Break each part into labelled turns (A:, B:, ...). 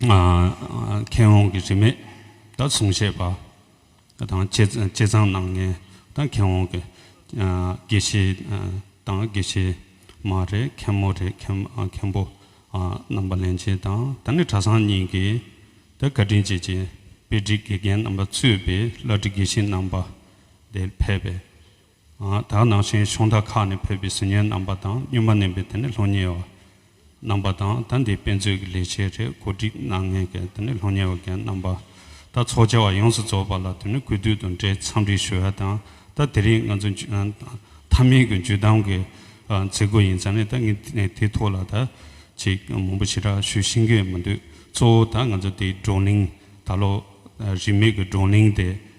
A: མཁས་དབང་གི་རིས་མེད་དང་གསུང་བཤད་པ་དང་བཅས་ཚང་སྣང་ངེ་དང་མཁས་དབང་གི་དགེ་བཤེས་དང་དགེ་བཤེས་མ་རེད་མཁན་མོ་རེད་མཁན་པོ་རྣམ་པ་ལན་ཆེན་དང་ད་ནི་གྲྭ་ཚང་གཉིས་ཀྱི་དེ་བཀའ་དྲིན་བྱེད་ཀྱི་དཔེ་སྒྲིག་དགེ་རྒན་རྣམ་པ་གཙོས་པའི་བླ་བྲེ་དགེ་བཤེས་རྣམ་པ་དེ་ཕལ་པའི་དག་ནང་བཞིན་ཕྱོགས་མཐའ་ཁག་ནས་ཕེབས་པའི་ཟི་ཉལ་རྣམ་པ་དང་སྨྱོན་པ་མནན་པའི་དེ་ནི་སློབ་གཉེར་བ་རྣམ་པ་དང་ད་འདིའི་དཔེ་མཛོད་ཀྱི་ལས་བྱེད་རེ་གོ་སྒྲིག་གནང་མཁན་གྱི་དེ་ནི་སློབ་གཉེར་བ་རྒན་རྣམ་པ་ད་ཚོགས་བཅར་བ་ཡོངས་སུ་རྫོགས་པ་ལ་དེ་ནི་གུས་འདུད་དང་འབྲེལ་འཚམས་འདྲི་ཞུ་ཡ་དང་ད་དེ་རིང་ང་ཚོ་མཐའ་མའི་གྱི་འཇུ་དམ་གྱི་མཛད་སྒོ་ཡིན་ས་ནས་ད་ངས་དེའི་ཐོག་ལ་ད་ཅིག་མང་པོ་ཞེ་དྲག་ཞུ་ཤེས་ཀྱི་མི་འདུག་གཙོ་བོ་ད་ང་ཚོ་དེའི་བགྲོ་གླེང་ད་ལོ་རིས་མེད་ཀྱི་བགྲོ་གླེང་དེ།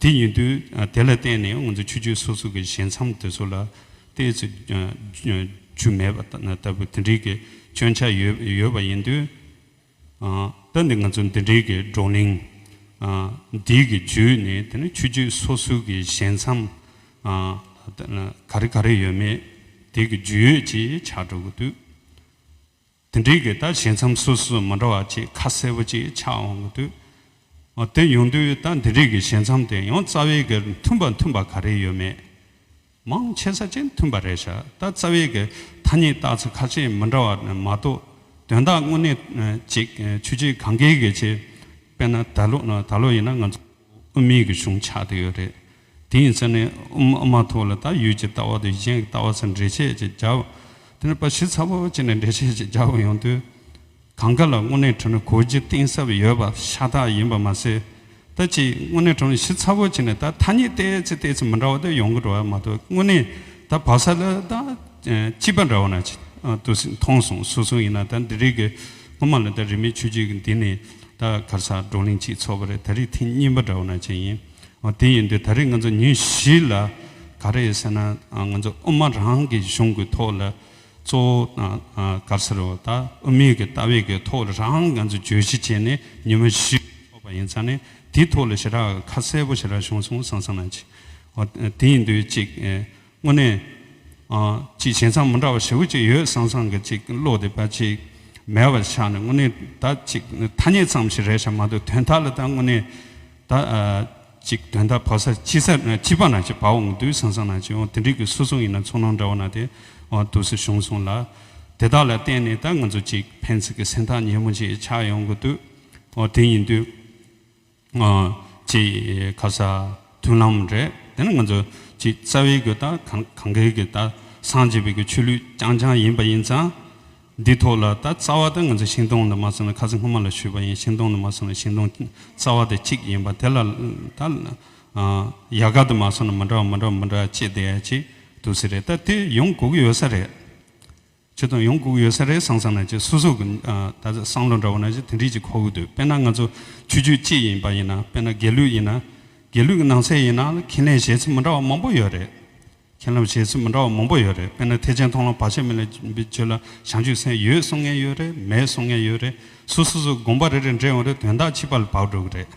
A: དེ་ཡིན་དུས་དེ་ལ་བརྟེན་ནས་ང་ཚོ་ཆོས་རྒྱུད་སོ་སོ་གི་ཞལ་མཚམས་དེ་ཚོ་ལ་བལྟས་ཚེ་རྒྱུ་མེད་པ་ལྟ་བུ་དེ་འདྲིའི་གི་སྐྱོན་ཆ་ཡོད་པ་ཡིན་དུས། ད་ནི་ང་ཚོ་འདི་འདྲིའི་གི་བགྲོ་གླེང་འདིའི་གི་བརྒྱུད་ནས་དེ་ནི་ཆོས་རྒྱུད་སོ་སོའི་གི་ཞལ་མཚམས་ག་རེ་ག་རེ་ཡོད་མེད་དེ་གི་བརྒྱུད་ཡོད་ཅེས་བྱ་སྒྲོ་གུ་དུས། དེ་འབྲེལ་གྱི་ད་བྱེད་མཚམས་སོ་སོ་མི་འདྲ་བ་གཅིག་ཁ་གསལ་པོ་གཅིག་ཆགས་འོང་གི་འདུག་ཨོ་དེ་ཡོང་དུས་ད་འདི་རིགས་ཀྱི་བྱེད་མཚམས་དེ་ཡང་རྩ་བའི་གེར་མཐུན་པ་མཐུན་པ་ག་རེ་ཡོད་མེད་མང་ཆེ་ས་གཅིག་མཐུན་པ་རེད་ཤག་ད་རྩ་བའི་གེར་ཐ་སྙད་བཏགས་ཚུལ་ཁ་ཤས་མི་འདྲ་བ་མ་གཏོགས་དོན་དག་དངོས་གནས་གཅིག་ཆུ་གཅིག་གངས་འགལ་གྱི་ཆེད་དཔེར་ན་ད་ལོ་ད་ལོ་ཡིན་ན་ང་ཚོ་དབུ་མེད་ཀྱི་གཞུང་ཆགས་དེ་ཡོད་རེད་དེ་ཡི་ཚེ་ནི་ཨུ་མ་ཐུག་ལ་དག་ཡུལ་གྱི་ལྟ་བ་དེ་གཞན་གྱི་ལྟ་བ་ཚ་འདྲེས་ཆས་ཀྱི་རྒྱ། དེ་ནི་པ་བྱི་ཚ་བོ་བྱི་ནི་འདྲེས་ཆས་ཀྱི་རྒྱ་བོ་ཡོང་དུས། གང་ག་ལ་དངོས་གནས་གྲོ་ནི་གོ་རྒྱུ་གཏིང་ཟབ་ཡོད་པ་ཤ་སྟག་ཡིན་པ་མ་ཟད། ད་ཅིག་དངོས་གནས་གྲོ་ནི་བྱི་ཚ་བོ་བྱི་ནི་ད་ཐ་སྙད་བལྟས་ཚེ་བལྟས་ཚེ་མི་འདྲ་བ་དེ་ཡོང་གི་འགྲོ་བ་མ་གཏོགས་དངོས་གནས་ད་བ་ས་ལ་ད་སྐྱིད་པ་འདྲ་བ་ན་ཏུ་སི་མཐོང་སོང་སུ་སུ་ཡིན་ན་ད་འདི་རིགས་ཀྱི་སྔོན་མ་ལ་ད་རིན་མེད་ཆུ་རྒྱུས་ཀྱི་འདི་ནི་ད་གར་ས་བགྲོ་གླེང་ཅིག་ཚོགས་པ་རེད་ད་རིགས་ཐིག་རྙིང་པ་འདྲ་བ་ན་ཅིག་ཡིན། དེ་ཡིན་དུས་ད་རེས་ང་ཚོ་ཉིན་བཞི་ལ་ག་རེ་ཡོད་ཟེར་ན་ང་ཚོ་དབུ་མ་རང་གི་གཞུང་གི་ཐོག་ལ་གཙོ་བོ་གར་སེར་བ་དང་དབུ་མེད་ཀྱི་ལྟ་བའི་གི་ཐོག་ལ་རང་ང་ཚོ་བརྗོད་གཞི་བྱས་ནས་ཉིན་མོ་བཞི་ཐོབ་པ་ཡིན་ཙང་ནས་དེའི་ཐོག་ལ་ཞེ་དྲག་ཁ་གསལ་པོ་ཞེ་དྲག་བྱུང་སོང་སང་སང་ན་ཅིག་དེ་ཡིན་དུས་གཅིག་དངོས་གནས། ཅིག་བྱས་མཚམས་མི་འདྲ་བ་ཧྲིལ་བོ་ཅིག་ཡོད་སང་སང་གི་ཅིག་བློ་དེ་བ་ཅིག་མལ་བ་ཆགས་ནས་དངོས་གནས་ད་ཅིག་ཐ་སྙད་ཙམ་ཞིག་རེད་བྱ་མ་འདུག་དོན་དག་ལ་ད་དངོས་གནས་ད་ཅིག་དོན་དག་བ་ས་ཅི་ས་ཅི་བ་ན་ཅིག་བ་འོང་གི་འདུག་སང་སང་ན་ཅིག་འོང་དེ་འགྲིག་གི་སུ་སོང་ཡིན་ན་ཚོར་སྣང་འདྲ་བ་ན་དེ་འོང་དུས་སུ་བྱུང་སོང་ལ། དེ་དག་ལ་བརྟེན་ནས་ད་ང་ཚོ་ཅིག་ཕན་ཚུན་གྱི་སེམས་ཐག་ཉེ་མོ་ཅིག་ཆགས་ཡོང་གི་འདུག་འོ་དེ་ཡིན་དུས། ངོ། ཅི། ཁ་ས། མཐུན་ལམ་རེད། དེ་ནི་ང་ཚོ། ཅི། རྩ་བའི་སྒོས་ད། གང་གཱའི་སྒོས་ད། སངས་རྒྱས་པའི་སྒོས་ཆོས་ལུགས་རྐྱང་རྐྱང་ཡིན་པ་ཡིན་ཙང། འདི་ཐོག་ལ་ད་རྩ་བ་ད་ང་ཚོ་ཤིང་སྡོང་ལ་མ་སོང་ན་ཁ་ས་སྔོན་མ་ལ་བཞུད་པ་ཡིན་ཤིང་སྡོང་ལ་མ་སོང་ན་ཤིང་སྡོང། རྩ་བ་ད་གཅིག་ཡིན་པ་དེ་ལ་ད། ཡལ་ག་ད་མ་སོང་ན་མི་འདྲ་བ་མི་འདྲ་བ་མི་འདྲ་བ་ཅི་བསྡད་ཅིག་འདུག་ས་རེད་ད་དེ་ཡོང་དགོས་ཀྱི་ཡོད་ས་རེད། ཁྱོད་དང་ཡོང་སྒུག་ཡོད་ས་རེད་སང་སང་ན་ཅེས་སུ་སུ་གི་ད་ཟེར་སང་ལོ་འདྲ་བོ་ན་ཅེས་དེ་འདྲིས་ཅིག་ཁོ་འུར་དུས་དཔེར་ན་ང་ཚོ་ཆོས་རྒྱུད་གཅིག་ཡིན་པ་ཡིན་ན་དཔེར་ན་དགེ་ལུགས་ཡིན་ན་དགེ་ལུགས་ཀྱི་ནང་ཚད་ཡིན་ན་ལ་ཁྱེད་ལན་བཞེས་ཚུལ་མི་འདྲ་བ་མང་པོ་ཡོད་རེད་ཁྱེད་ལམ་བཞེས་ཚུལ་མི་འདྲ་བ་མང་པོ་ཡོད་རེད་དཔེར་ན་ཐེག་ཆེན་མཐོང་ལམ་བར་ཆད་མེད་ལ་བརྗོད་ལ་བྱང་ཆུད་སེམས་ཡོད་གསུང་མཁན་ཡོད་རེད་མེད་གསུང་མཁན་ཡོད་རེད་སུ་སུ་སུ་དགོངས་པ་རེ་རེ་འདྲེས་འོང་རེད་དོན་དག་ཕྱི་པ་ལ་བབས་འགྲོ་གི་རེད་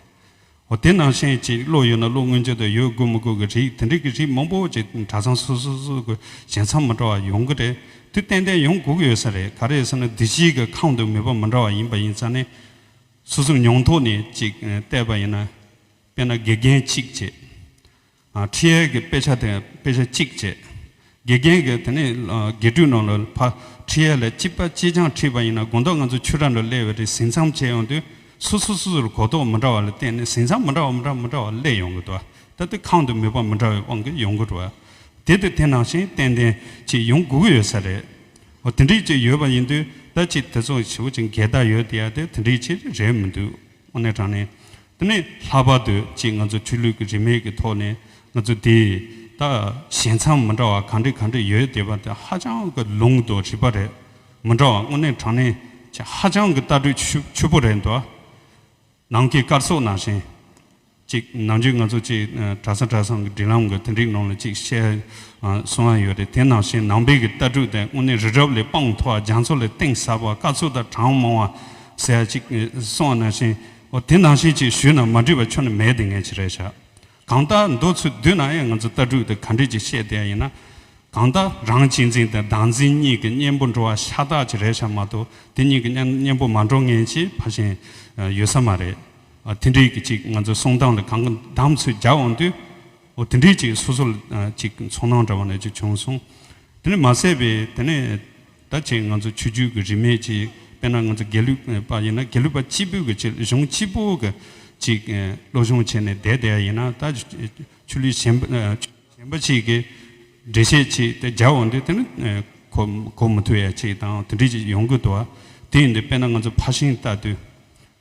A: འོ་དེ་ནང་བཞིན་ཅིག་བློ་ཡོད་ན་བློ་མངོན་བརྗོད་དུ་ཡོད་དགོས་མི་དགོས་ཀྱི་རིགས་དེ་འདྲིས་ཀྱི་རིགས་མང་པོ་ཅིག་གྲྭ་ཚང་སོ་སོ་སོ་སོ་གི་བཞེངས་མཚམས་མི་འདྲ་བ་ཡོང་གི་རེད་དུས་ཏན་ཏན་ཡོང་དགོས་ཀྱི་ཡོད་ས་རེད་ག་རེ་ཟེར་ན་བདུད་བཞིའི་གི་ཁང་དུ་མེད་པ་མི་འདྲ་བ་ཡིན་པ་ཡིན་ས་ནི། སོ་སོའི་མྱོང་ཐོག་ནས་ཅིག་བལྟས་པ་ཡིན་ན། དཔེར་ན་དགེ་རྒན་གཅིག་བྱེད། ཁྲི་ཡལ་གྱི་དཔེ་ཆ་དེ་དཔེ་ཆ་གཅིག་བཅས། དགེ་རྒན་གྱིས་དེ་ནི་དགེ་སྤྲུལ་ནོར་ལོས་ཕ་ཁྲི་ཡལ་ལས་སྤྱི་པ་ཅི་ཆང་ཁྲིད་པ་ཡིན་ན་དགོངས་དོགས་ང་ཚོ་ཆོས་གྲྭ་ལ་གླས་བའི་རིགས་ཟིན་མཚམས་བཅད་ཡོང་དུས་སོ་སོ་སོ་སོར་གོ་རྟོགས་མི་འདྲ་བ་ལ་བརྟེན་ནས་ཟིན་མཚམས་མི་འདྲ་བ་མི་འདྲ་མི་འདྲ་བ་གླས་ཡོང་གི་འདུག་ད་ལྟ་ཁང་དུ་མི་ཕམ་མི་འདྲ་བའི་དབང་གིས་ཡོང་གི་འདུག་བ་དེ་དེ་དེ་ནང་བཞིན་ཏན་ཏན་ཅིག་ཡོང་དགོས་ཀྱི་ཡོད་ས་རེད། འོ་དེ་འདྲིས་ཅིག་ཡོད་པ་ཡིན་དུས་ད་ཅིག་དེ་ཚོ་བྱེད་པོ་ཅིག་འགལ་ཟླ་ཡོད་དེ་ཡ་དེ་དེ་འདྲིས་ཅིག་རེད་མི་འདུག། དངོས་གནས་དྲང་གནས་དེ་ནི་ལྷག་པར་དུ་གཅིག་ང་ཚོ་ཆོས་ལུགས་ཀྱི་རིས་མེད་ཀྱི་ཐོག་ནས་ང་ཚོ་དེ་དག་ཞེ་མཚམས་མི་འདྲ་བ་གང་འདྲི་གང་འདྲི་ཡོད་དེ་བ་དེ་ཧ་ཅང་གི་ལུང་དུ་རིགས་པ་རེད་མི་འདྲ་བ་དངོས་གནས་དྲང་གནས་ཀྱི་ཧ་ཅང་གི་ལྟ་གྲུས་ཆུ་བོ་རེད་འདུག་ནང་གི་སྐར་ཚོགས་ནང་བཞིན། གཅིག་ནང་ཆོས་ང་ཚོ་གཅིག་གྲྭ་ས་གྲྭ་སང་གི་འབྲེལ་ལམ་གི་དོན་རིག་ནང་ལ་གཅིག་བཤད་གསུང་ཡ་ཡོད་རེད་དེ་ནང་བཞིན་ནང་པའི་གི་ལྟ་གྲུག་དེ་དངོས་གནས་རི་རབ་ལས་དཔངས་མཐོ་བ་རྒྱ་མཚོ་ལས་གཏིང་ཟབ་བ་དཀའ་ཚུགས་དང་གྲང་མང་བ་ཟེར་ཡ་གཅིག་གསུང་ནང་བཞིན་འོ་དེ་ནང་བཞིན་གཅིག་ཞུས་ན་མ་འགྲིག་པ་ཆོ་ནི་མེད་དེ་ངས་ཅི་རེད་བྱ་གང་ལྟ་འདོད་ཚུལ་བསྡུས་ན་ཡང་ང་ཚོ་ལྟ་གྲུག་དེ་ག་འདྲས་ཀྱི་བཤད་དེ་ཡ་ཡིན་ན་གང་ལྟ་རང་གཅིག་འཛིན་དང་བདག་འཛིན་གཉིས་གི་གཉེན་པོ་འགྲོ་བ་ཤ་སྟག་ཅི་རེད་བྱ་མ་གཏོགས་དེ་གཉིས་གི་གཉེན་པོ་མ་འགྲོ་ངན་ཅིག་ཕ་ཞེན་ཡོད་ས་མ་རེད། དེ་འདྲའི་གི་ཅིག་ང་ཚོའི་གསོང་སྟངས་ལ་གང་གི་འདམ་ཚོད་རྒྱག་འོང་དུས། འོ་དེ་འདྲའི་ཅིག་སོ་སོ་ལ་ཅིག་ཚོང་སྣང་འདྲ་བ་ནས་ཅིག་བྱུང་སོང། དེ་ནས་མ་ཟད་པའི་དེ་ནས་ད་ཅིག་ང་ཚོ་ཆོས་རྒྱུད་གི་རིས་མེད་ཅིག་དཔེར་ན་ང་ཚོ་དགེ་ལུགས་པ་ཡིན་ན་དགེ་ལུགས་པ་སྤྱི་ཕུད་གི་ཅིག་གཞུང་སྤྱི་པོ་གི་ཅིག་བློ་སྦྱོང་བྱས་ནས་བསྡད་བསྡད་ཡ་ཡིན་ན་ད་ཆོས་ལུགས་གཞན་པ་གཞན་པ་ཅིག་གི་འགྲེལ་བཤད་ཅིག་དེ་རྒྱག་འོང་དུས་དེ་ནི་གོ་གོ་མི་ཐུབ་ཡ་ཅིག་དང་དེ་འདྲའི་ཅིག་ཡོང་གི་འདུག་བ། དེ་ཡིན་དུས་དཔེར་ན་ང་ཚོ་ཕར་ཕྱིན་བལྟ་དུས།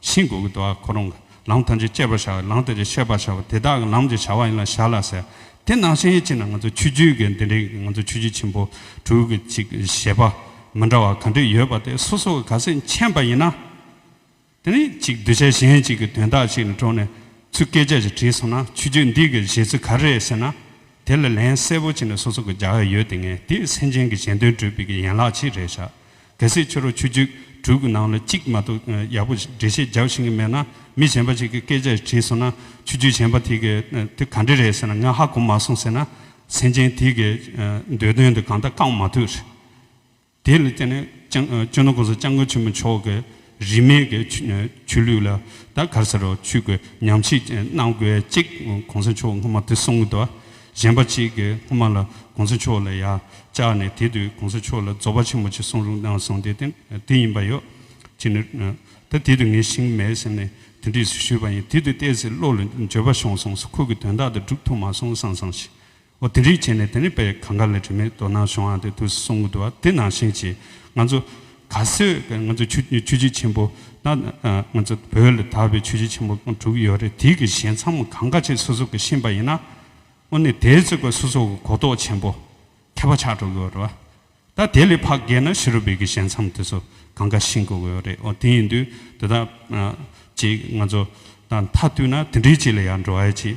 A: ཤིང་སྒོ་གི་དུ་བ་ཁོ་རང་གི་ལམ་ཐམས་ཅད་བཅད་པར་བྱ་བའི་ལམ་དེ་རེ་ཤེས་པར་བྱ་བ་དེ་དག་གི་ལམ་ཅེས་བྱ་བ་ཡིན་ལ་ཞར་ལ་ཟེར། དེ་ནང་བཞིན་ཡིད་ཆེས་ན་ང་ཚོ་ཆོས་བརྒྱུད་ཀྱི་འདི་འདྲའི་ང་ཚོ་ཆོས་བརྒྱུད་ཆེན་པོ་དྲུག་གི་ཅིག་བཞེད་པ་མི་འདྲ་བ་ག་འདྲས་ཡོད་པ་དེ་སོ་སོ་ག་ག་སེ་མཁྱེན་པ་ཡིན་ན། དེ་ནས་ཅིག་གདུལ་བྱ་གཞན་ཅིག་གི་དོན་དག་ཅིག་ལ་དྲོ་ནས་ཚུལ་བཀས་བཅད་ཅིག་བྲིས་སོང་ན་ཆོས་བརྒྱུད་འདི་གི་བཞེད་ཚུལ་ག་རེ་རེད་ཟེར་ན་དེ་ལ་ལན་གསལ་བོ་བྱིན་ནས་སོ་སོ་གི་རྒྱ་ཡོད་དེ་ངས་དེ་སེམས་ཅན་གྱི་གཞན་དོན་བགྲོད་པའི་གི་ཡན་ལག་ཅིག་རེད་བཞག་གལ་སྲིད་ཁྱོད་རོ་ཆུ་རྒྱུད་དྲུག་གི་ནང་ལ་གཅིག་མ་གཏོགས་ཡག་པོ་འགྲེལ་བཤད་རྒྱག་ཤེས་གི་མེད་ན་མི་གཞན་པ་ཞིག་གི་སྐད་ཆ་དྲིས་སོང་ན་ཆུ་རྒྱུད་གཞན་པ་དེ་གི་དེ་ག་འདྲི་རེད་ཟེར་ན་ངས་ཧ་གོ་མ་སོང་ཟེར་ན་སེམས་ཅན་དེ་གི་འདོད་དོན་དེ་གང་ལྟ་བསྐང་མ་ཐུབ། དེ་ལ་བརྟེན་ནས་སྤྱིར་ན་གོང་ས་ལྕང་སྐུ་ཆེན་མོ་མཆོག་གིས་རིས་མེད་ཀྱི་ཆོས་ལུགས་ལ་ད་གར་ཟེར་རོ་ཆུད་དགོས་སྙམ་ཞིག་གནང་དགོས་གཅིག་གོང་ས་མཆོག་སྔོན་མ་དེ་གསུང་གི་འདུག་གཞན་པ་གཅིག་གིས་སྔོན་མ་ལ་གོང་ས་མཆོག་ལ་ཡང་བཅག་ནས་དེ་དུས་གོང་ས་མཆོག་ལ་རྫོགས་པ་ཆེན་པོ་ཅིག་གསུང་རུང་གནང་སོང་དེ་དེ་ཡིན་པ་ཡོད་ཅིག་ད་དེ་དུས་ངས་ཤིང་མེད་ཟེར་ནས་དོན་འདྲི་ཞུས་པ་ཡིན་དེ་དུས་བལྟས་ཚེ་བློ་ལ་འབྱོད་པ་ཤོང་སོང་ཁོ་གི་དོན་དག་དེ་སྒྲུབ་ཐུབ་མ་སོང་བསམ་བསམ་ཞིག་ཨོ་དེ་རིགས་བྱས་ནས་དེ་ནས་དཔེ་གང་ག་ལས་དྲི་མེད་དོ་སྣང་བྱུང་ཨ་དེ་དུས་སུ་གསུང་གི་འདུག་ཨ་དེ་ནང་བཞིན་གྱིས་ང་ཚོ་ག་སོད་ང་ཚོ་ཆུ་ཆུ་བྱི་ཆེན་པོ་ད་ང་ཚོ་བོད་ལ་དར་བའི་ཆུ་བྱི་ཆེན་པོ་དྲུག་ཡོད་རེད་དེ་གི་ཞལ་མཚམས་གང་ག་ཆེ་སོ་སོ་གི་ཤེས་པ་ཡིན་ན་ཨོ་ནི་དེ་ཚོ་གི་སོ་སོ་གི་གོ་རྟོགས་ཆེན་པོ་ཁྱད་པ་ཆགས་འགྲོ་གི་ཡོད་རེད་བ་ད་དེ་ལས་ཕག་རྒས་ན་ཤི་རུ་བས་གི་ཞལ་མཚམས་དེ་ཚོ་གང་ག་ཤེས་དགོས་གི་ཡོད་རེད་ཨོ་དེ་ཡིན་དུས་དེ་དག་ཅིག་ང་ཚོ་ད་མཐའ་བསྟུད་ན་དེ་འདྲའི་ཅིག་ལ་ཡར་འགྲོ་ཨེ་ཆེ།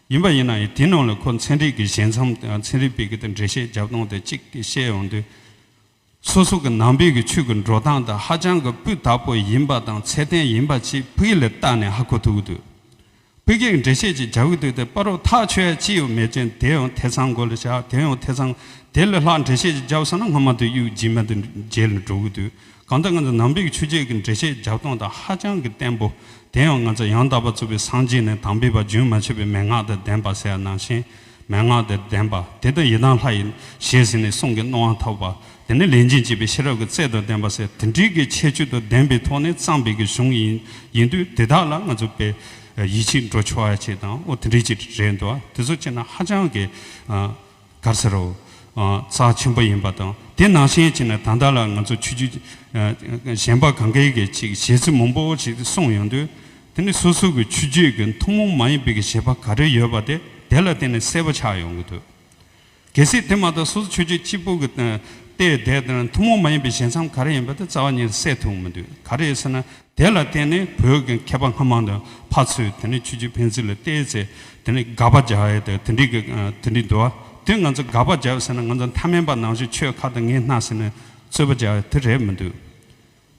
A: ཡིན་པ་ཡིན་ན་ཡང་དེའི་ནང་ལ་ཁོ་ཚན་རིག་གི་བཞེད་མཚམས་དང་ཚན་རིག་པའི་གི་དང་འགྲེལ་བཤད་རྒྱབ་སྟངས་དང་ཅིག་གིས་བཤད་ཡོང་དུས། སོ་སོ་གི་ནང་པའི་གི་ཆོས་གི་འགྲོ་སྟངས་དང་ཧ་ཅང་གི་སྤུས་དག་པོ་ཡིན་པ་དང་ཚད་ལྡན་ཡིན་པ་ཅིག་བོད་ཡིག་ལ་བལྟ་ནས་ཧ་གོ་ཐུབ་ཀི་འདུག་བོད་སྐད་ཀྱི་འགྲེལ་བཤད་ཅིག་རྒྱག་གི་འདུག་དེ་པར་རོ་ཐག་ཆོད་ཡ་ཅི་ཡོད་མེད་ཅིག་དེ་ཡང་ཐེ་ཚང་གོ་ལ་བཞག་དེ་ཡང་ཐེ་ཚང་དེ་ལས་ལྷག་འགྲེལ་བཤད་ཅིག་རྒྱབ་ས་ན་སྔ་མ་དུ་གཡུག་རྗེས་མ་དུ་མཇལ་ལ་འགྲོ་གི་འདུག་གང་ལྟར་ང་ཚོ་ནང་པའི་ཆོས་བརྒྱད་ཀྱི་འགྲེལ་བཤད་རྒྱབ་སྟངས་དང་ཧ་ཅང་གི་བརྟན་པོ། དེ་ཡང་ང་ཚོ་ཡང་དག་པར་རྩོད་པའི་སངས་རྒྱས་ནི་དམ་པའི་བ་རྒྱུན་མ་ཆད་པའི་མན་ངག་དང་ལྡན་པ་ཟེར་ཡང་ནང་བཞིན་མན་ངག་དང་ལྡན་པ། དེ་ལྟར་ཡི་དམ་ལྷ་ཡི་ཞེས་ཟེར་ནས་གསུང་གི་རྣོ་དབང་ཐོབ་པ། དེ་ནི་ལས་འབྱིན་བྱེད་པའི་ཤེས་རབ་ཀྱི་རྩལ་དང་ལྡན་པ་ཟེར་དེ་འདྲིའི་གི་ཁྱད་ཆོས་དང་ལྡན་པའི་ཐོག་ནས་གཙང་སྦས་ཀྱི་གཞུང་ཡིན་ཡིན་དུས་དེ་དག་ལ་ང་ཚོ་པས་ཡིད་ཆེས་འགྲོ་ཆོག་ཡ་ཆེས་དང་འོ་དེ་འདྲིའི་ཅིག་རེད་འདུག་བ་དེ་ཚོ་བྱས་ན་ཧ་ཅང་གི། གར་ཟེར་རོ། རྩ་ཆེན་པོ་ཡིན་པ་དང་དེ་ནང་བཞིན་བྱས་ན་ད་ལྟ་ལ་ང་ཚོ་ཆོས་བརྒྱུད་གཞན་པ་གང་གཱའི་གི་ཅིག་གཞས་ཚིག་མང་པོ་ཞིག་གསུངས་ཡོང་དུས་དེ་ནི་སོ་སོ་གི་ཆོས་བརྒྱུད་གི་ཐུན་མོང་མ་ཡིན་པའི་གི་གཞས་པ་ག་རེ་ཡོད་པ་དེ་དེ་ལ་བརྟེན་ནས་གསལ་པོ་ཆགས་ཡོང་གི་འདུག་གལ་སྲིད་དེ་མ་གཏོགས་སོ་སོ་ཆོས་བརྒྱུད་གཅིག་པོ་གི་ལྟས་དེ་ཐུན་མོང་མ་ཡིན་པའི་གཞས་མཚམས་ག་རེ་ཡིན་པ་དེ་རྩ་བ་ཉིད་གསལ་ཐུབ་མི་འདུག་ག་རེ་ཡོད་ཟེར་ན། དེ་ལ་བརྟེན་ནས་བོད་ཀྱི་མཁས་པ་སྔ་མ་དང་ཕ་ཚོས་དེ་ནས་ཆོས་རྗེ་ཕན་ཚུན་ལ་བལྟས་ཚེ་དེ་ནས་དགག་པ་རྒྱག་ཡས་དེ་འདྲི་གི་དེ་འདྲི་འདུག་དེ་ང་ཚོ་དགག་པ་རྒྱག་ཟེར་ན་ང་ཚོ་མཐའ་མན་པ་ནང་བཞིན་ཆོས་ཁ་དང་ངན་སྣ་ཟེར་ནས་རྩོད་པ་རྒྱག་ཡས་དེ་རེད་མི་འདུག་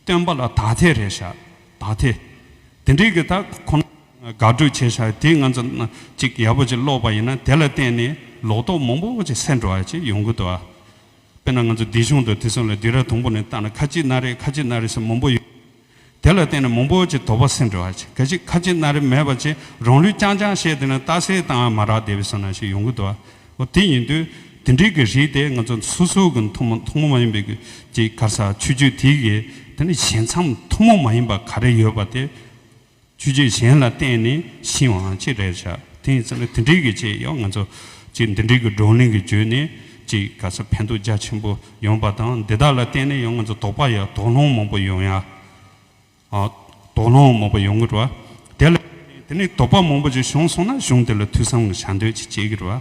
A: སྟོན་པ་ལ་དག་ཐེ་རེད་ཤག་དག་ཐེ། དེ་འདྲི་གི་ད་ཁོ་ན་དགག་སྒྲུག་བྱས་ཤག་དེ་ང་ཚོ་ཅིག་ཡག་པོ་ཅིག་ཀློག་པ་ཡིན་ན་དེ་ལ་བརྟེན་ནས་ལོག་རྟོག་མང་པོ་ཅིག་སེལ་འགྲོ་བ་ཅིག་ཡོང་གི་འདུག། དཔེར་ན་ང་ཚོ་སྡིག་གཞུང་དང་དུས་མཚུངས་ལ་སྡིག་ར་དུམ་བུ་ནས་བཏགས་ན་ཁ་ཅིག་སྣ་རེ་ཁ་ཅིག་སྣ་རེ་སོགས་མང་པོ་ཡོད། དེ་ལ་བརྟེན་ནས་མང་པོ་ཅིག་དོགས་པ་སེམས་འདྲི་བར་བྱེད་གལ་ཆེ་ཁ་ཅིག་སྣ་རེ་མེད་པ་ཅིག་རང་ལུས་རྐྱང་རྐྱང་བཤད་དེ་ན་རྟགས་གསལ་ལྟ་འང་མ་རག་བསྡད་པའི་སོ་ན་ཞིག་ཡོང་གི་འདུག་ཨོ་དེ་ཡིན་དུས་དེ་འདྲིའི་གི་རིགས་དེ་ང་ཚོ་སོ་སོ་གི་མཐོང་མ་མཐོང་མ་མ་ཡིན་པའི་གི་ཅིག་གར་ས་ཆོས་བརྒྱུད་དེའི་གི་དེ་ནི་བྱས་མཚམས་མཐོང་མ་མ་ཡིན་པ་ག་རེ་ཡོད་པ་དེ། ཆུ་རྒྱུན་གཞན་ལ་བརྟེན་ནས་ཕྱིན་བའང་གཅིག་རེད་བྱ། དེ་ཡིན་ཟེར་ན་དེ་འདྲའི་གི་ཅེས་ཡང་ང་ཚོ་གཅིག་འདི་འདྲའི་གི་བགྲོ་གླེང་གི་བརྒྱུད་ནས་གཅིག་ག་ས་ཕན་ཐོགས་རྒྱ་ཆེན་པོ་ཡོང་པ་དང་འདི་དག་ལ་བརྟེན་ནས་ཡང་ང་ཚོ་དོགས་པ་ཡ་དོགས་སློང་མང་པོ་ཡོང་ཡ། དོགས་སློང་མང་པོ་ཡོང་གི་རེད་བ། དེ་ལ་བརྟེན་ནས་དེ་ནས་དོགས་པ་མང་པོ་ཅིག་བྱུང་སོང་ན་གཞུང་དེ་ལ་ཐུགས་བསམ་བྱ་འདོད་ཅིག་བསྐྱེད་ཀྱི་རེད་བ།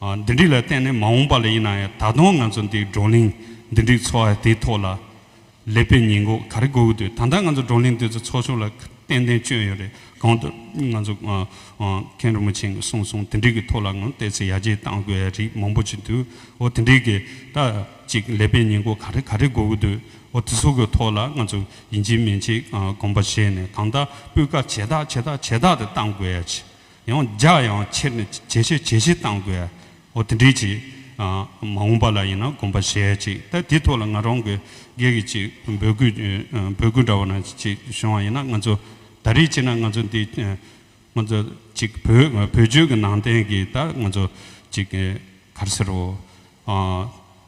A: འདི་འདྲི་ལ་བརྟེན་ནས་མ་འོངས་པ་ལ་ཡིན་ན་ཡང་ད་དུང་ང་ཚོ་འདི་བགྲོ་གླེང་འདི་འདྲི་འཚོ་བ་དེའི་ཐོག་ལ་ལེགས་པའི་ཉེས་འགོག་ག་རེ་དགོས་ཀྱི་འདུག་ད་ལྟ་ང་ཚོ་བགྲོ་གླེང་འདི་ཚོ་ཚོགས་ཆུང་ལ་ཏན་ཏན་བཅོལ་ཡོད་རེད་གང་ལྟར་ང་ཚོ་མཁན་རིན་པོ་ཆེན་གྱི་གསུང་གསུང་དེ་འདྲི་གྱི་ཐོག་ལ་ངོ་བལྟས་ཚེ་ཡར་རྒྱས་བཏང་དགོས་ཡ་རིགས་མང་པོ་ཅིག་འདུག་འོ་དེ་འདྲི་གི་ད་ཅིག་ལེགས་པའི་ཉེས་འགོག་ག་རེ་ག་རེ་དགོས་ཀྱི་འདུག་འོ་དེ་ཚོ་གྱི་ཐོག་ལ་ང་ཚོ་ཡིན་གཅིག་མིན་གཅིག་གོམ་པ་བཞེས་ནས་གང་ལྟར་སྤུས་ཀ་ཇེ་དག་ཇེ་དག་ཇེ་དག་ཏུ་བཏང་དགོས་ཡ་ཆེ་ཡང་བརྒྱག་ཡང་ཁྱེར་ནས་ཇེ་ཆེ་ཇེ་ཆེ་བཏང་དགོས། འོ་དེ་འདྲའི་ཅིག། མ་འོངས་པ་ལ་ཡིན་ན་དགོངས་པ་བཞེས་ཅིག་ད་དེ་ཐོག་ལ་ང་རང་གི་སྒེར་གྱི་ཅིག་འབོད་སྐུལ། འབོད་སྐུལ་འདྲ་བོ་ན་ཅིག་བྱུང་བ་ཡིན་ན་ང་ཚོ་ད་རེས་ཅིག་ན་ང་ཚོ་འདི། ང་ཚོ་ཅིག་བོད་བོད་ཆོལ་གྱི་ནང་བསྟན་གྱི་ད་ང་ཚོ་ཅིག། གར་ཟེར་རོ།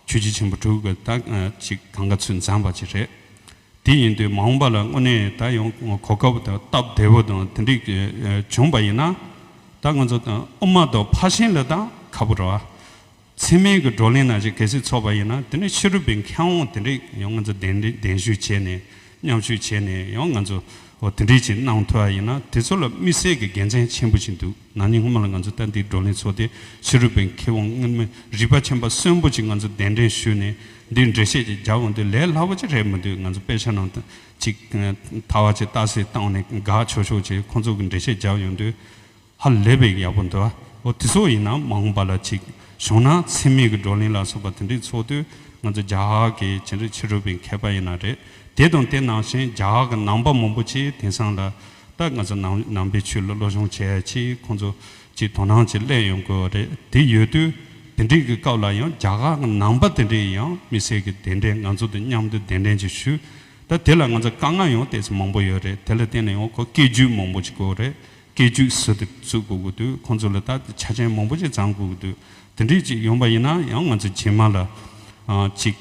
A: ཆོས་རྗེ་ཆེན་པོ་དྲུག་གི་ད་ཅིག་གང་ག་ཚུལ་མཛངས་པ་ཅིག་རེད། དེ་ཡིན་དུས་མ་འོངས་པ་ལ་དངོས་གནས་ད་ཡོང་གོ་སྐབས་དང་སྟབས་བདེ་བོ་དང་དེ་འགྲིག་བྱུང་པ་ཡིན་ན། ད་ང་ཚོ་དབུ་མ་ཐོག་ཕར་ཕྱིན་ལ་ད་ཁ་པོ་ར། ཚེགས་མེད་ཀྱི་བགྲོ་གླེང་ནང་བཞིན་གལ་སྲིད་ཚོགས་པ་ཡིན་ན་དེ་ནས་ཕྱི་རུ་བས་མཁས་དབང་དེ་འདྲས་ཡོང་ང་ཚོ་གདན་ཞུ་བྱས་ནས་མཉམ་ཞུགས་བྱས་ནས་ཡོང་ང་ཚོ་དེ་འདྲས་ཅིག་གནང་ཐུབ་པ་ཡིན་ན་དེ་ཚོ་ལ་དམིགས་བསལ་གྱི་དགེ་མཚན་ཆེན་པོ་ཞིག་འདུག། ན་ནིང་སྔོན་མ་ལ་ང་ཚོས་ལྟ་འདིའི་བགྲོ་གླེང་ཚོགས་ཏེ་ཕྱི་རོལ་པའི་མཁས་དབང་དངོས་མི་རིག་པ་ཆེན་པ་གསོན་པོ་ཅིག་ང་ཚོ་གདན་འདྲེན་ཞུས་ནས་འདིར་འགྲེལ་བཤད་ཅིག་རྒྱག་འོང་དུས་ལས་སླ་བོ་ཅིག་རེད་མི་འདུག་ང་ཚོ་དཔེ་ཆ་ནང་དུ་ཅིག་ད་བར་ཅིག་བལྟ་སའི་སྟངས་ནས་དགག་ཆོག་ཆོག་ཅིག་ཁོང་ཚོ་གི་འགྲེལ་བཤད་རྒྱག་ཡོང་དུས་ཧ་ལས་པའི་ཡག་པོ་འདུག་འོ་དེ་སོགས་ཡིན་ན་མ་འོངས་པ་ལ་ཅིག་བྱུང་ན་འཚེ་མེད་ཀྱི་བགྲོ་གླེང་ལ་སོགས་པ་དེ་འདྲའི་ཚོགས་དུས་ང་ཚོ་རྒྱ་གར་གྱི་ཇི་འདྲའི་ཕྱི་རོལ་པའི་མཁས་པ་ཡིན་ན་རེད་དེ་དང་དེ་ནང་བཞིན་རྒྱ་གར་གྱི་ནང་པ་མང་པོ་ཅིག་དེང་སང་ལ། ད་ང་ཚོ་ནང་ནང་པའི་ཆོས་ལ་བློ་སྦྱོང་བྱས་ཆེ་ཁོང་ཚོ་ཅིག་དོ་སྣང་ཅིག་གླན་ཡོང་དགོས་རེད་དེ་ཡོད་དུས་དེ་འདྲིག་གི་སྐབས་ལ་ཡང་རྒྱ་གར་གི་ནང་པ་དེ་འདྲས་ཡང་མི་སེར་གི་དེ་འདྲས་ང་ཚོ་དང་མཉམ་དུ་གདན་འདྲེན་ཅིག་ཞུ་ད་དེ་ལ་ང་ཚོ་དཀའ་ངལ་ཡང་དེ་ཚོ་མང་པོ་ཡོད་རེད་དེ་ལ་བརྟེན་ནས་ཡང་ཁོ་སྐད་རྒྱུད་མང་པོ་ཅིག་དགོས་རེད་སྐད་རྒྱུད་ཟུར་དུ་བཙུག་དགོས་དགོས་དུས་ཁོང་ཚོ་ལ་ད་དེ་ཆ་ཅན་མང་པོ་ཅིག་བརྫང་དགོས་དགོས་དུས་དེ་འདྲིག་ཅིག་ཡོང་པ་ཡིན་ན་ཡང་ང་ཚོ་རྗེས་མ་ལ་ཅིག་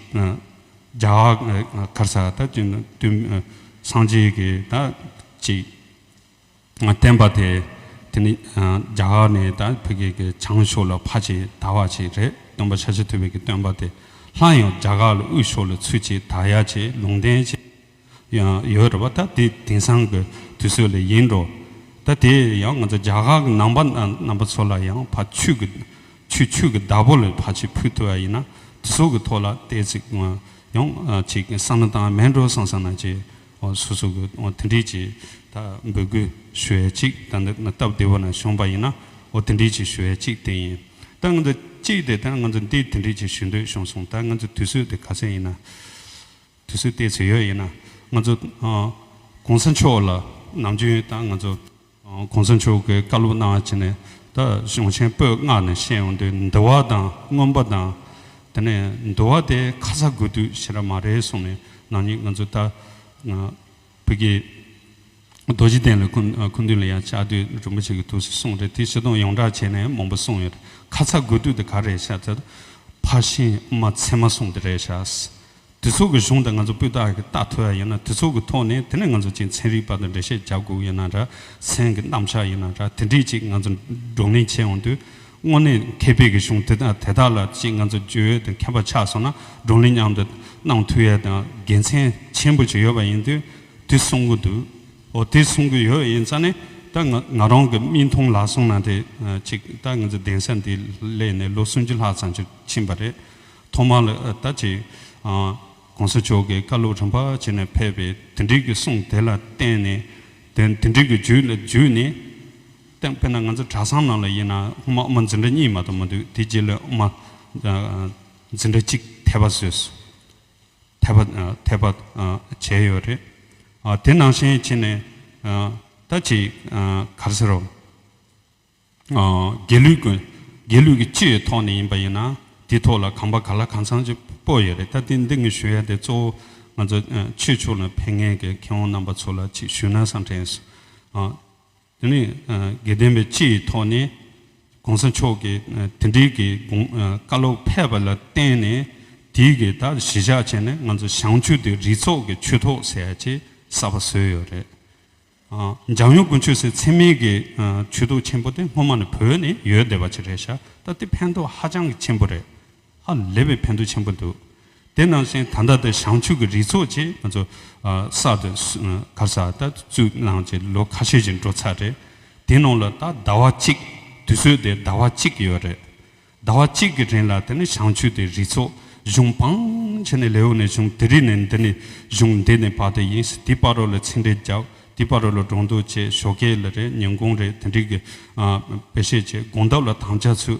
A: རྒྱ་གར་ས་ད་དུ་དུས་སངས་རྒྱས་ཀྱི་ད་ཅིག་བསྟན་པ་དེ་དེ་ནི་རྒྱ་གར་ནས་ད་བོད་སྐད་ཀྱི་བྱང་ཕྱོགས་ལ་ཕ་ཆེ་ད་བ་ཆེ་རེད་སྟོན་པ་ཤ་ཆེ་ཐུབ་པའི་གི་སྟོན་པ་དེ་སླར་ཡང་རྒྱ་གར་ལ་དབུས་ཕྱོགས་ལ་ཚུལ་ཆེ་ད་ཡ་ཆེ་ལུང་བསྟན་ཆེ། ཡང་ཡོད་རེད་བ་ད་དེ་དེང་སང་གི་དུས་ཚོད་ལ་ཡིན་འགྲོ་ད་དེ་ཡང་ང་ཚོ་རྒྱ་གར་གི་ནང་པ་རྣམ་པ་ཚོ་ལ་ཡང་ཕ་ཆུ་གི་ཆུ་ཆུ་གི་བདག་པོ་ལས་ཕ་ཆུ་ཕུལ་ཐུབ་པ་ཡིན་ན་དེ་ཚོ་གི་ཐོག་ལ་བལྟས་ཚིག་ཡོང་ཅིག་བསམ་ན་དང་མེད་འགྲོ་སང་སང་ན་ཅེས་སོ་སོ་གི་དེ་འདྲིས་ཀྱི་ད་འབོད་སྐུལ་ཞུ་ཡ་ཅིག་ད་འདི་ན་སྟབས་བདེ་བོ་ན་བྱུང་པ་ཡིན་ན་དེ་འདྲིས་ཀྱི་ཞུ་ཡ་ཅིག་དེ་ཡིན་ད་ང་ཚོ་ཅིག་དེ་ད་ང་ཚོ་འདི་དེ་འདྲིས་ཀྱི་ཞུ་འདོད་བྱུང་སོང་ད་ང་ཚོ་དུས་ཚོད་དེ་ག་ཚད་ཡིན་ན། དུས་སུ་བལྟས་ཚོད་ཡོད་ཡིན་ན་ང་ཚོ ྋགོང་ས་མཆོག་ལ་ནམ་རྒྱུན་ཡོད་དང་ང་ཚོ ྋགོང་ས་མཆོག་གི་བཀའ་སློབ་གནང་བ་བྱས་ནས་ད་གཞུང་ཆེན་པོས་བསྔགས་ནས་བཤད་ཡོང་དུས་འདི་བ་དང་སྔོན་པོ་དང། དེ་ནས་འདི་བ་དེ་ཁ་ཚ་དགོས་དུས་བྱེད་ར་མ་རེད་གསུངས་ནས་ནང་ཉིད་ང་ཚོ་ད་བོད་ཀྱི། རྡོ་རྗེ་གདན་ལ་ཁུ་འདུན་ལ་ཡང་ལྕགས་མདུད་རིན་པོ་ཆེ་གི་ཐུགས་སྲས་གསུངས་རེད་དེ་བྱེ་རྡོང་ཡོངས་གྲགས་བྱས་ནས་མང་པོ་གསུངས་ཡོད་རེད་ཁ་ཚ་དགོས་གཏུགས་དེ་ག་རེད་ཤ་ཚ་ཕ་ཤིང་མ་ཚེ་མ་གསུངས་དེ་རེད་ཤག་དེ་ཚོ་གི་གཞུང་དང་ང་ཚོ་སྤུས་དག་གི་རྟགས་ཐོལ་བ་ཡིན་ན་དེ་ཚོ་གི་ཐོག་ནས་དེ་ནས་ང་ཚོ་གཅིག་མཚན་རིག་པ་དང་འགྲེལ་བཤད་རྒྱག་དགོས་ཡིན་ན་ར་མཚན་གི་རྣམ་གཞག་ཡིན་ན་ར་དེ་འདྲིས་གཅིག་ང་ཚོ་བགྲོ་གླེང་བྱས་འོང་དུས་དངོས་གནས་མཁས་པའི་གི་གཞུང་དེ་དག་དེ་དག་ལ་གཅིག་ང་ཚོ་འཇུ་ཡོད་དང་མཁས་པ་ཆགས་སོང་ན་བགྲོ་གླེང་མཉམ་དུ་གནང་ཐུ་ཡས་དང་དགེ་མཚན་ཆེན་པོ་ཞིག་ཡོད་པ་ཡིན་དུས། དེ་གསུང་གི་འདུག་འོ་དེ་གསུང་གི་ཡོད་ཡིན་ཙང་ནི་ད་ང་ང་རང་གི་མིག་མཐོང་ལག་ཟུང་ན་དེ་གཅིག་ད་ང་ཚོའི་གདན་ས་འདི་གླས་ནས་ལོ་སུམ་ཅུ་ལྷག་ཙམ་ཅིག་ཕྱིན་པ་རེད། ཐོག་མར་ལ་ད་ཅི། གོང་ས་མཆོག་གིས་བཀའ་སློབ་རིམ་པ་བྱས་ནས་ཕེབས་པའི་དེ་འབྲེལ་གྱི་གསུང་དེ་ལ་བརྟེན་ནས་དེ་དེ་འབྲེལ་གྱི་བརྒྱུད་ལ་བརྒྱུད་ནས་བསྟན་དཔེར་ན་ང་ཚོ་གྲྭ་ཚང་ནང་ལ་ཡིན་ན་སྔོན་མ་ཨུ་མ་འཛིན་གྲྭ་གཉིས་མ་གཏོགས་མ་འདུག་དེ་རྗེས་ལ་ཨུ་མ་འཛིན་གྲྭ་གཅིག་ཐེ་བ་བཟོས། འཐད་པ། འཐད་པ། བྱས་ཡོད་རེད། དེ་ནང་བཞིན་བྱས་ནས། ད་ཅི། ག་ཟེར་རོ། རྒྱལ་ལུས་དགོས། རྒྱལ་ལུས་ཀྱི་སྤྱི་ཡི་ཐོག་ནས་ཡིན་པ་ཡིན་ན། དེའི་ཐོག་ལ་གང་པ་ག་ལ་གང་ཚང་ཅིག་སྤོ་ཡོད་རེད་ད་ཏི་འདི་ངས་ཞུ་ཡ་དེ་གཙོ་བོ། ང་ཚོ་ཆོས་ཕྱོགས་ལ་ཕན་ངེས་ཀྱི་མཁས་དབང་རྣམ་པ་ཚོ་ལ་ཅིག་ཞུས་ན་བཟང་དྲན། དེ་ནས་དགེ་ལྡན་པའི་སྤྱི་ཡི་ཐོག་ནས ྋགོང་ས་མཆོག་གི་དེ་འབྲེལ་གྱི་བཀའ་སློབ་ཕེབས་པ་ལ་བརྟེན་ནས་དེའི་གི་དག་གཞི་བཞག་བྱས་ནས་ང་ཚོ་ཞང་ཆུ་དེ་རི་ཚོགས་ཀྱི་ཆུ་ཐོག་ཟེར་ཅེས་གསར་པ་བཟོས་ཡོད་རེད། འཇང་ཡུ་གུ་ཆུ་སེར་འཚེ་མེད་ཀྱི་ཆུ་ཐོག་ཆེན་པོ་དེ་སྔོན་མ་ནས་བོད་ནས་ཡོད་བསྡད་པ་ཅིག་རེད་ཤག་ད་དེ་ཕན་ཐོགས་ཧ་ཅང་གི་ཆེན་པོ་རེད། ཧ་ལས་པའི་ཕན་ཐོགས་ཆེན་པོ་འདུག་དེ་ནང་བཞིན་ད་ལྟ་དུ་བྱང་ཆུབ་ཀྱི་རི་ཚོགས་ཀྱིས་ང་ཚོ་གསར་དུ་གར་ས་ད་བཙུགས་གནང་རྗེས་ལོ་ཁ་ཤས་ཀྱི་འགྲོ་ཚར་རེད་དེའི་ནང་ལ་ད་ཟླ་བ་གཅིག་དུས་ཚོད་དེ་ཟླ་བ་གཅིག་ཡོད་རེད་ཟླ་བ་གཅིག་གི་རིང་ལ་དེ་ནི་བྱང་ཆུབ་ཀྱི་རི་ཚོགས་གཞུང་འཕང་ཆེ་ནས་ལེའོ་ནས་བྱུང་དེ་རིང་ནས་འདི་ནི་གཞུང་འདི་ནས་བར་དུ་ཡིན་དེའི་པར་རོ་ལ་ཚིག་འགྲེལ་རྒྱབ་དེའི་པར་རོ་ལ་སྒྲོག་འདོགས་བཅས་ཞོགས་སྐལ་རེད་ཉིན་གུང་རེད་དེ་འགྲིག་གི་དཔེ་བཤད་བྱས་དགོངས་དག་ལ་དམ་བཅའ་ཚུལ།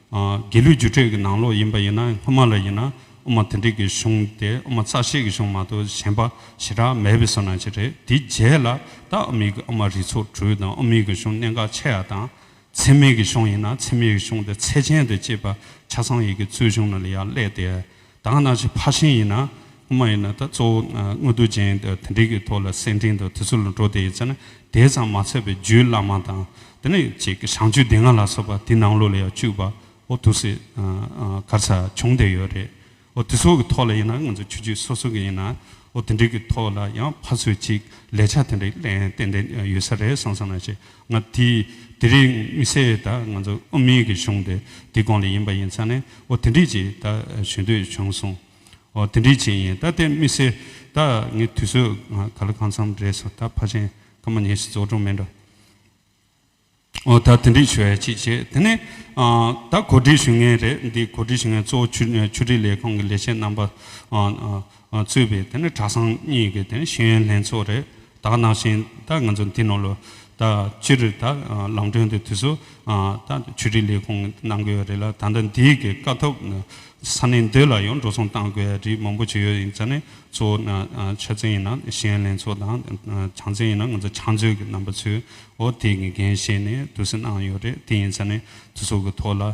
A: རྒྱལ་ལུས་རྒྱུ་འབྲས་ཀྱི་ནང་ལོགས་ཡིན་པ་ཡིན་ན་སྔོན་མ་ལ་ཡིན་ན་དབུ་མ་དེ་འགྲིག་གི་གཞུང་དེ་དབུ་མ་རྩ་ཤེས་ཀྱི་གཞུང་མ་གཏོགས་གཞན་པ་ཞེ་དྲག་མེད་པའི་བསོད་ནམས་ཅིག་རེད་དེའི་རྗེས་ལ་ད་ཨ་མིག་གི་དབུ་མ་རིགས་ཚོགས་དྲུག་དང་དབུ་མིའི་གི་གཞུང་གནད་འགག་ཆེ་ཡ་དང། ཚད་མེད་ཀྱི་གཞུང་ཡིན་ན་ཚད་མེད་ཀྱི་གཞུང་དེ་ཚད་ཅན་དུ་བཅས་པ་ཆ་ཚང་ཡི་གི་གཙོས་གཞུང་ན་ལ་ཡ་ཀླད་དེ། དང་ན་ཆེ་ཕ་ཤིང་ཡིན་ན་དབུ་མ་ཡིན་ན་ད་གཙོ་བོ་དངོས་རྡུལ་ཅན་དེ་འདྲའི་གི་ཐོག་ལ་སེང་ལྡེང་དང་དུས་ཚོད་ལ་འགྲོ་དེ་ཡིན་ཚེ་ན་དེའི་ཚང་མ་ཚད་པའི་རྒྱུད་བླ་མ་དང་དེ་ནས་ཅིག་གི་བྱང་ཆུབ་སྡེ་ལྔ་ལ་སོགས་པ་དེ་ནང་ལོགས་ལ་ཡང་བཅུ་པའོ་དུ་སི་གར་ཚ་བྱུང་བསྡད་ཡོད་རེད་འོ་དེ་ཚོ་གི་ཐོག་ལ་ཡིན་ན་ང་ཚོ་ཆོས་རྒྱུད་སོ་སོ་གི་ཡིན་ནའོ་དེ་འདྲའི་གི་ཐོག་ལ་ཡང་ཕ་ཚོས་ཅིག་ལས་ཆ་དེ་འདྲའི་གཏན་གཏན་ཡོད་ས་རེད་སོང་ས་ན་ཞེས་ང་དེ་དེ་རིང་དམིགས་བསལ་ད་ང་ཚོ་དབུ་མེད་ཀྱི་གཞུང་དེ་དེ་གང་ལ་ཡིན་པ་ཡིན་ཚ་ནས་འོ་དེ་འདྲས་ཅིག་ད་ཞུ་འདོད་བྱུང་གསུངས། འོ་དེ་འདྲས་ཅིག་ཡིན་ད་དེ་དམིགས་བསལ་ད་ངས་དུས་ཚོད་ང་ག་ལ་གང་འཚམས་རེད་སོ་ད་ཕ་ཆེན་ཀ་མ་ཉེ་ཞིག་རྫོགས་གྲོང་མེད་འགྲོ། འོ་ད་དེ་འདྲས་ཞུ་ཡ་ཅིག་བྱས་དེ་ནས་ད་གོ་སྒྲིག་ཞུ་ངེས་རེད་འདི་གོ་སྒྲིག་ཞུ་ངེས་གཙོ་བོ་ཆུ་སྒྲིག་ལས་ཁང་གི་ལས་བྱེད་རྣམ་པ། ཚུད་པའི་དེ་ནི་གྲྭ་ཚང་གཉིས་ཀྱི་དེ་ནི་ཤེས་ཡོན་ལྷན་ཚོགས་རེད་ད་གནང་བཞིན་ད་ང་ཚོ་འདི་ནང་ལོ་ད་སྤྱི་རེ་ད་ལམ་གྲོན་དེ་དུས་སུ་ད་ཆོས་རིག་ལས་ཁུངས་གནང་དགོས་ཡོད་རེད་ལ་ད་ལྟ་འདིའི་གི་དཀའ་ཐུབ་ས་ནས་འདི་ལ་ཡང་འགྲོ་སོང་གཏང་དགོས་ཡ་རིགས་མང་པོ་བྱས་ཡོད་ཡིན་ཙང་ནི་གཙོ་བོ་ན་ཆ་ཚན་ཡིན་ན་ཤེས་ཡོན་ལྷན་ཚོགས་དང་ཆང་ཚན་ཡིན་ན་ང་ཚོ་ཆང་མཛོད་གི་རྣམ་པ་ཚོའི་འོ་དེ་གི་འགན་བཞེས་ནས་དུས་སུ་གནང་ཡོད་རེད་དེ་ཡིན་ཙང་ནི་དུས་སུ་གི་ཐོག་ལ།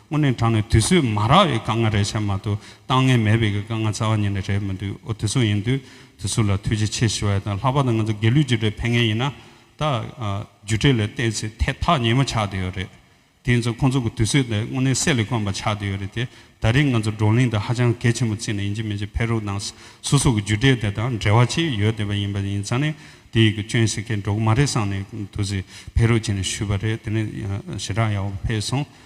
A: དངོས་གནས་དྲང་ནས་དུས་ཚོད་མ་རག་བའི་དཀའ་ངལ་རེད་བྱས་མ་གཏོགས་གཏང་ངེས་མེད་པའི་གི་དཀའ་ངལ་རྩ་བ་ཉིད་ནས་རེད་མི་འདུག་ཨོ་དེ་ཚོ་ཡིན་དུས་དེ་ཚོ་ལ་ཐུགས་རྗེ་ཆེ་ཞུ་བ་ཡིན་ད་ལྷག་པར་དུ་ང་ཚོ་དགེ་ལུས་རྒྱུ་འབྲས་ཕན་ངེས་ཡིན་ན་ད་རྒྱུ་འབྲས་ལ་བལྟས་ཚེ་ཐད་ཐག་ཉེ་མོ་ཆགས་དུས་ཡོད་རེད་དེ་ཡིན་ཚོ་ཁོང་ཚོ་གི་དུས་ཚོད་དེ་དངོས་གནས་གསེར་ལས་དཀོན་པ་ཆགས་དུས་ཡོད་རེད་དེ་ད་རེས་ང་ཚོ་བགྲོ་གླེང་དེ་ཧ་ཅང་གལ་ཆེན་པོ་བརྩིས་ནས་ཡིན་གཅིག་མིན་གཅིག་ཕེབས་རོགས་གནང་སོ་སོ་གི་རྒྱུ་འབྲས་དེ་དང་འབྲེལ་བ་ཅི་ཡོད་དེ་བ་ཡིན་པ་ཡིན་ཙང་ནས་དེ་ཡི་གི་སྐྱོན་བྱེད་མཁན་འགྲོ་གི་མ་རེད་བསམ་ནས་དུས་ཚོད་ཕེབས་རོགས་བྱས་ནས་ཞུས་པ་རེད་དེ་ནས་ཞེ་དྲག་ཡག་པོ་ཕེབས་སོང།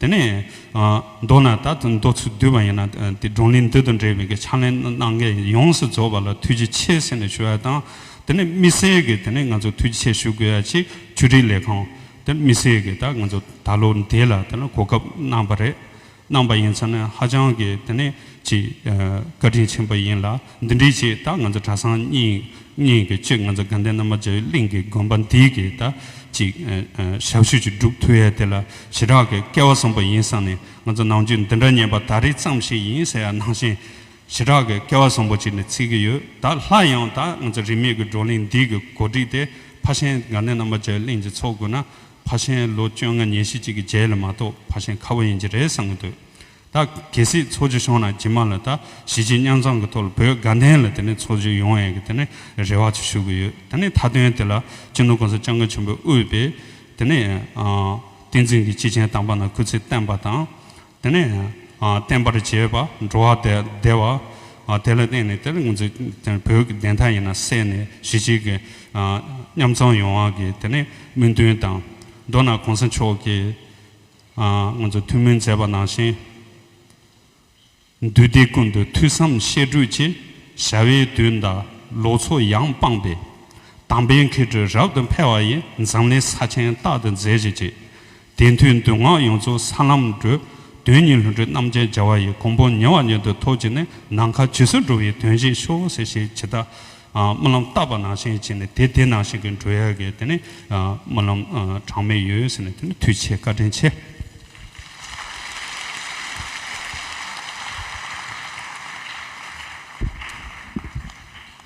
A: དེ་ནས། མདོར་ན་ད་ལྟ་འདོད་ཚུལ་བསྡུས་པ་ཡིན་ན་དེ་སྒྲུང་གླེང་བསྡུས་དང་འབྲེལ་བའི་གི་ཕྱག་ལེན་གནང་མཁན་ཡོངས་སུ་རྫོགས་པ་ལ་ཐུགས་རྗེ་ཆེ་ཟེར་ནས་ཞུ་བ་དང། དེ་ནས་དམིགས་བསལ་གྱི་དེ་ནས་ང་ཚོ་ཐུགས་རྗེ་ཆེ་ཞུ་དགོས་ཡ་གཅིག་ཆུ་སྒྲིག་ལས་ཁང་དེ་དམིགས་བསལ་གྱི་ད་ང་ཚོ་ད་ལོ་འདི་ལ་དེ་ནས་གོ་སྐབས་གནང་བ་རེད། གནང་བ་ཡིན་ཚ་ནས་ཧ་ཅང་གི་དེ་ནས་ཅིག་བཀའ་དྲིན་ཆེན་པོ་ཡིན་ལ། འདི་འདྲའི་ཆེད་ད་ང་ཚོ་གྲྭ་སང་གཉིས་ཀྱི་ཆེད་ང་ཚོ་དགའ་ལྡན་ན་མ་བྱ་ཡི་གླིང་གི་དགོན་པ་འདི་གི་ད་ཅིག་ཞབས་ཞུ་ཅིག་སྒྲུབ་ཐུབ་ཡས་དེ་ལ་ཞེ་དྲག་གི་སྐལ་བ་བཟང་པོ་ཡིན་བསམ་ནས་ང་ཚོ་ནང་ཆོས་འདི་འདྲ་ཉན་པ་ད་རེས་ཙམ་ཞིག་ཡིན་ཟེར་ཡ་ནང་བཞིན་ཞེ་དྲག་གི་སྐལ་བ་བཟང་པོ་ཅིག་ནས་ཚིག་གི་ཡོད་ད་ལྷ་ཡང་ད་ང་ཚོ་རིས་མེད་ཀྱི་བགྲོ་གླིང་འདི་གི་གོ་སྒྲིག་དེ་ཕ་ཤན་དགའ་ལྡན་ན་མ་བྱ་ཡི་གླིང་གི་ཚོགས་དགོས་ན་ཕ་ཤན་ལོ་བཅོ་ལྔ་ཉེར་བཞི་ཅིག་གི་རྗེས་ལ་མ་གཏོགས་ཕ་ཤན་ཁ་བོ་ཡིན་གྱི་རེད་བསམ་གྱི་འདུག་ད་གལ་སྲིད་ཚོགས་ཆུ་ཤོང་ན་རྗེས་མ་ལ་ད་གཞིས་བྱེས་མཉམ་འཛོམས་ཀྱི་ཐོག་ལ་བོད་དགའ་ལྡན་ལ་དེ་ནས་ཚོགས་ཆུ་ཡོང་བའི་དེ་ནས་རེ་བ་ཆུ་ཞུ་གི་ཡོད་དེ་ནས་མཐའ་དོན་དེ་ལ་སྤྱི་ནོར ྋགོང་ས ྋསྐྱབས་མགོན་ཆེན་པོས་དབུས་པའི་དེ་ནས་བསྟན་འཛིན་གྱི་སྤྱི་ཆིངས་དམ་པ་ན་སྐུ་ཚེ་བརྟན་པ་དང་དེ་ནས་བརྟན་པར་བྱས་པ་འགྲོ་བ་བདེ་བ་དེ་ལ་བརྟེན་ནས་དེ་ལ་ངོས་འཛིན་བོད་ཀྱི་བདེན་མཐའ་ཡིན་ན་གསལ་ནས་གཞིས་བྱེས་ཀྱི་མཉམ་འཛོམས་ཡོང་བ་གྱི་དེ་ནས་སྨོན་འདུན་དང་མདོར་ན ྋགོང་ས་མཆོག་གི། སྔོན་དུ་ཐུགས་སྨོན་མཛད་པ་ནང་བཞིན། འདུས་སྡེ་ཀུན་ཏུ་ཐོས་བསམ་བཤད་སྒྲུབ་ཀྱི་བྱ་བའི་དུས་འདའ་ལོག་ཚོགས་ཡངས་སྤངས་པས། དམ་པའི་མཁས་གྲོལ་རབ་ཏུ་འཕེལ་བ་ཡི་འཛམ་གླིང་ས་ཆེན་རྟག་ཏུ་མཛེས་བྱེད་ཅིག། དེ་མཐུས་འདུས་སྔགས་ཡོངས་རྫོགས་ས་ལམ་འགྲོ། དོན་གཉིས་ལྷུན་གྲུབ་རྣམ་ཅན་སྦྱར་བ་ཡི་གོང་བུ་ཉེ་བར་ཉེ་དུ་ཐོགས་ཀྱིས་ནི་ནམ་མཁའ་ཇི་སྲིད་འགྲོ་བའི་དོན་བཞིན་ཤོག་སེ་ཞེས་ཇི་ལྟ་སྨོན་ལམ་བཏབ་པ་ནང་བཞིན་བྱས་ནས་དེ་དེ་ནང་བཞིན་གྱི་འགྲོ་ཡ་གི་དེ་ནི་སྨོན་ལམ་གྲངས་མེད་ཡོད་ཟེར་ནས་དེ་ནི་མཐུ་ཆེ་བཀའ་དྲིན་ཆེ།